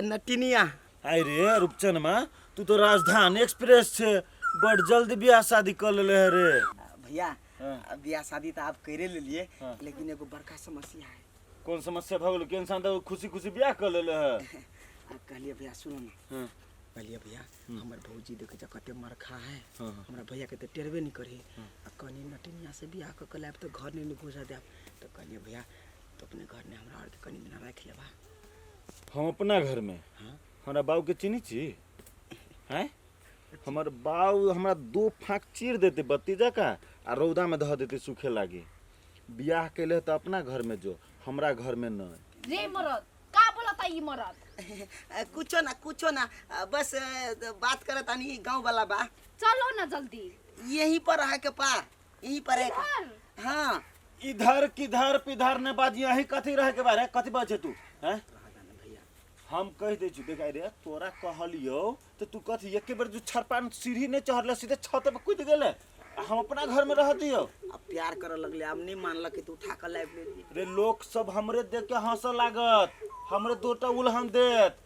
नटिनिया आय रे रूपचनमा तू तो राजधानी एक्सप्रेस छे बड़ जल्दी ब्याह शादी कर लेले है रे भैया हाँ। ब्याह शादी तो आप करे ले लिए हाँ। लेकिन एगो बड़का समस्या है कौन समस्या भगल के इंसान तो खुशी खुशी ब्याह कर लेले है आप कहलिए भैया सुनो ना हाँ। कहलिए भैया हम्म। हमारे भौजी देखे जा कते मरखा है हाँ, हाँ। हमारा भैया के तो टेरबे नहीं करे हाँ। आ कनी नटिनिया से ब्याह कर के लाइब तो घर नहीं घुसा दे तो कहलिए भैया तो अपने घर ने हमरा और कनी दिन रख लेबा हम अपना घर में हमारा बाबू के चिन्ही छी हैं हमर बाबू हमरा दो फाँक चीर देते बत्ती जका आ रौदा में धऽ देते सूखे लागे बियाह कैले तऽ अपना घर में जो हमरा घर में न रे मरद का बोलता ई मरद अ, कुछो ना कुछो ना अ, बस अ, बात करत आनी गाँव वाला बा चलो ना जल्दी यहीं पर रह के पार ई पर एक हाँ इधर किधर पिधर ने बाजी अही कथी रहे के बारे कथी बचे तू हैं हम कह दे छु देखा रे तोरा कहलियो तो तू कथी एक बेर जो छरपान सीढ़ी ने चढ़ले सीधे छत पर कूद गेले आ हम अपना घर में रह दियो अब प्यार करे लगले अब नहीं मानलक कि तू उठा कर लाइब्रेरी रे लोग सब हमरे देख के हंसे लागत हमरे दोटा उलहन देत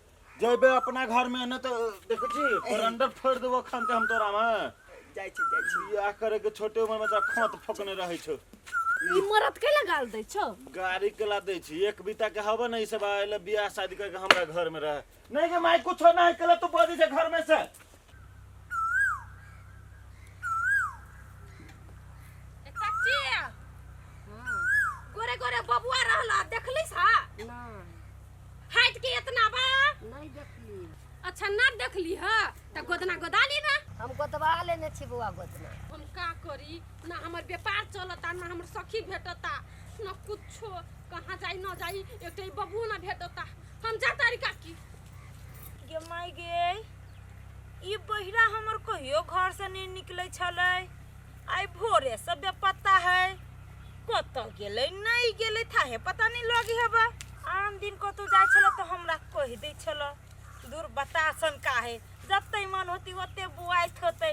जैबे अपना घर में ने तो देखो जी बरंडर फोड़ देबो खान के हम तोरा में जाइ छी जाइ छी बियाह करे के छोटे उम्र में तोरा खोत फोकने रहे छो ई मरद के लगाल दै छौ गाड़ी के ला दे छी एक बीता के हवा नहीं सब आयल बियाह शादी करके हमरा घर में रहे नहीं के माय कुछ ना है केला तू बजे जे घर में से ए, चाची गोरे गोरे बबुआ रहला देखलिस हा नहीं हाइट के इतना बा नहीं देखली अच्छा ना देखली हा त गोदना गोदाली ना हम गोदवा लेने छी बौआ गोदना हम का करी ना हमर व्यापार चलता ना हमर सखी भेटता ना कुछो कहाँ जाई ना जाई एकटा ई बबुओ ना भेटता हम जा तारी काकी गे माय गे ई बहिरा हमर कहियो घर से नहीं निकले छले आई भोरे से बेपत्ता है कत गेले नहीं गेले था है पता नहीं लगी हबा आन दिन कतौ जाय छले तो हमरा कह दे छले दूर बतासन का है जत्ते मन होती ओते बुआइत होते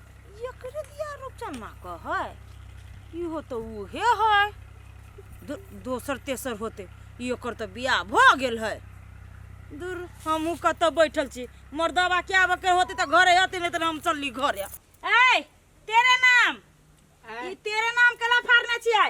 एकरे दिया रूपचन्ना कहै इहो तऽ उहे है दो, दोसर तेसर होते एकर तऽ बियाह भऽ गेल है दूर हमहूँ कतऽ बैठल छी मर्दबा के आबऽ के होते तऽ घरे अते नहीं तऽ हम चलली घरे ए तेरे नाम ई तेरे नाम के लफार ना छियै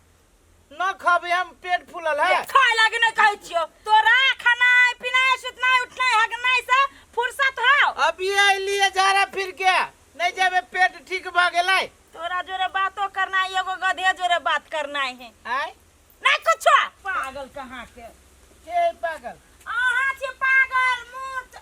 न खबे हम पेट फूलल है खाए लागे नहीं कहे छियो तोरा खाना पीना सुतना उठना हगना से फुर्सत हो अभी अलिए झारा फिर के नहीं जाबे पेट ठीक भ गेलै तोरा जोरे बातो करना है एगो गधे जोरे बात करना है आय नहीं कुछ पागल कहाँ के के है पागल अहाँ छी पागल मूर्ख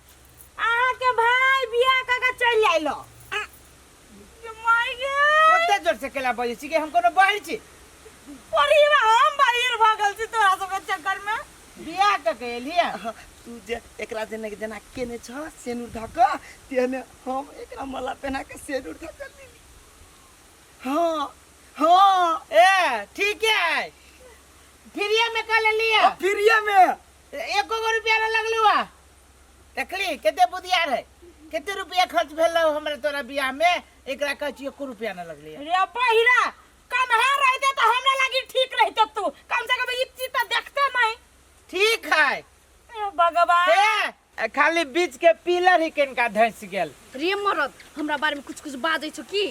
अहाँ के भाई बियाह क के चल आइल हो। ये माय गे ओते जोर से केला बजे छी के हम कोनो बाहर छी परिवा हम बाहर भगल छी तोरा सब के चक्कर में बियाह क के एलिया अहाँ, तू जे एकरा जेना के जेना केने छ सेनुर धक तेने हम एकरा मला पहना के सेनुर धक देली हाँ हाँ ए ठीक है फिरिया में कल लिया अब फिरिया में तऽ एको गो रुपया ना लगलू आ देखली कते बुधिया रहे कते रुपया खर्च भेल रहो हमरा तोरा बियाह में एकरा कहै छी एको रुपया ना लगली रे बहिरा कन्हा रहते तो हमरा लागी ठीक रहते तू कम से कम ई चीज तो देखते नहीं ठीक है ए भगवान हे, खाली बीच के पिलर ही किनका धंस गेल प्रेम मरद हमरा बारे में कुछ कुछ बाजै छौ की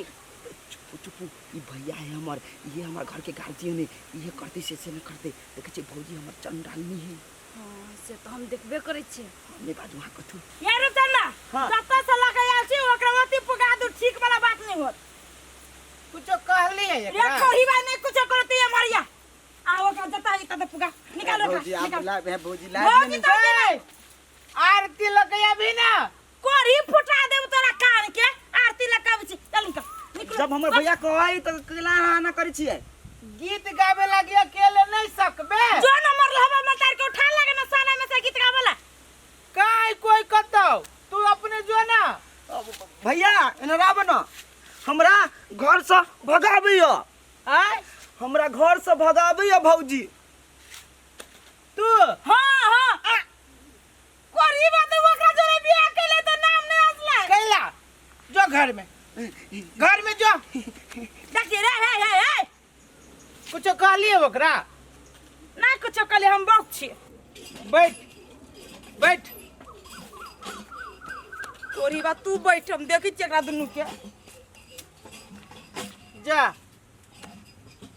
ई भैया है हमर ये हमर घर के गार्जियन है ये करते से से न करते देखे छे भौजी हमर चंडालनी है हां से तो हम देखबे करे छी हमने बाजू हां कथु ये रे तना हाँ। जत्ता से लगे आल छी ओकरा वती पुगा दू ठीक वाला बात नहीं होत कुछ कहली है ये एकरा कोही बात नहीं कुछ करती है मरिया आ ओकरा जत्ता ही तब पुगा निकाल ओकरा भौजी आप निकाल ला भौजी ला भौजी तो आरती लगे अभी ना कोरी फुटा देब तोरा कान के आरती लगाबै छी चल निकल निकल जब हमर भैया कहै त केला अहाँ ना करै छियै गीत गावे लगी अकेले नहीं सकबे जो न मरल हवा में तार के उठा लगे ना साना में से गीत गावला काई कोई कतो तू अपने जो ना भैया एना राव न हमरा घर से भगाबै य आय हमरा घर से भगाबै य भौजी तू हां हां कोरी बात ओकरा जोरे बियाह केले त नाम नहीं असला कैला जो घर में घर में जो देखिए रे हे हे हे कुछ कहलिए ओकरा ना कुछ कहले हम बक छी बैठ बैठ कोरी बात तू बैठ हम देखि छी एकरा दुनू के जा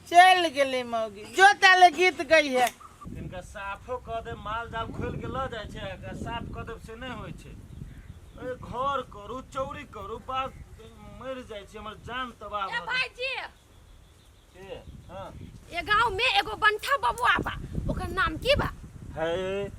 चल गेले मौगी जो ताले गीत गई है इनका साफो कऽ दे माल जाल खोल के लऽ जाइ छै एकरा साफ कऽ देब से नहि होइ छै अरे घर करू चौरी करू बात मरि जाइ छै हमर जान तबाह ए भऽ जाइ भाईजी छै हँ ए गांव में एगो बंठा बबुआ बा ओकर नाम की बा है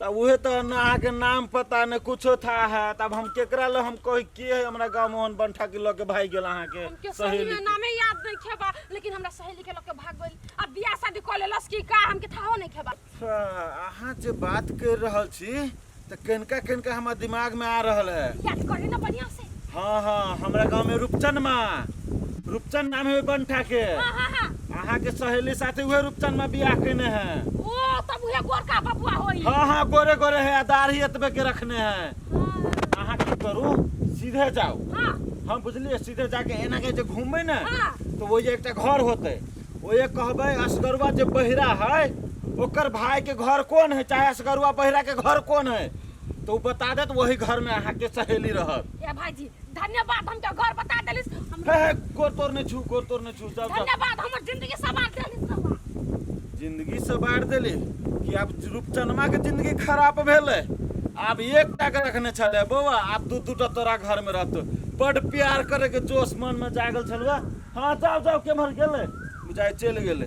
तब उहे तो न अहाँ के नाम पता न कुछो था है तब हम केकरा ले हम कही के है हमरा गांव मोहन बंठा के लगे भाई गेल अहाँ के हमके सही सहेली में नामे याद नहीं खेबा लेकिन हमरा सहेली के लगे भाग गइल अब बियाह शादी कर लेलस कि का हमके थाहो नहीं खेबा अच्छा, अहाँ जे बात कर रहल छी त केनका केनका हमार दिमाग में आ रहल है याद करी ना बढ़िया से हाँ हाँ हमरा गांव में रूपचन माँ रूपचन नाम है बंठा के हाँ हाँ हाँ अहाँ के सहेली साथे उहे रूपचन माँ बियाह केने हैं ओ तब उहे गोरका बबुआ होई हाँ हाँ गोरे गोरे है आ दाढ़ी एतबे के रखने हैं अहाँ की करू सीधे जाओ हाँ हम बुझलिए सीधे जाके एना के जे घूमबै ने हाँ। तो वो एकटा घर होते वो ये कहबै असगरुआ जे बहिरा है ओकर भाई के घर कौन है चाहे असगरुआ बहिरा के घर कौन है तो उ बता देत वही घर में अहाँ के सहेली रहत ए भाईजी धन्यवाद हमके घर बता देलिस हम हे हे गोर तोर ने छू गोर तोर ने छू जब जब धन्यवाद हमर जिंदगी सवार देलिस रवा जिंदगी से बाढ़ देली कि आब रूपचनमा के जिंदगी खराब भेले आब एक टाका रखने छले बौआ आब दू दू टा तोरा घर में रहतो बड प्यार करे के जोश मन में जागल छलवा हाँ जाओ जाओ केम्हर गेले बुझाय चलि गेले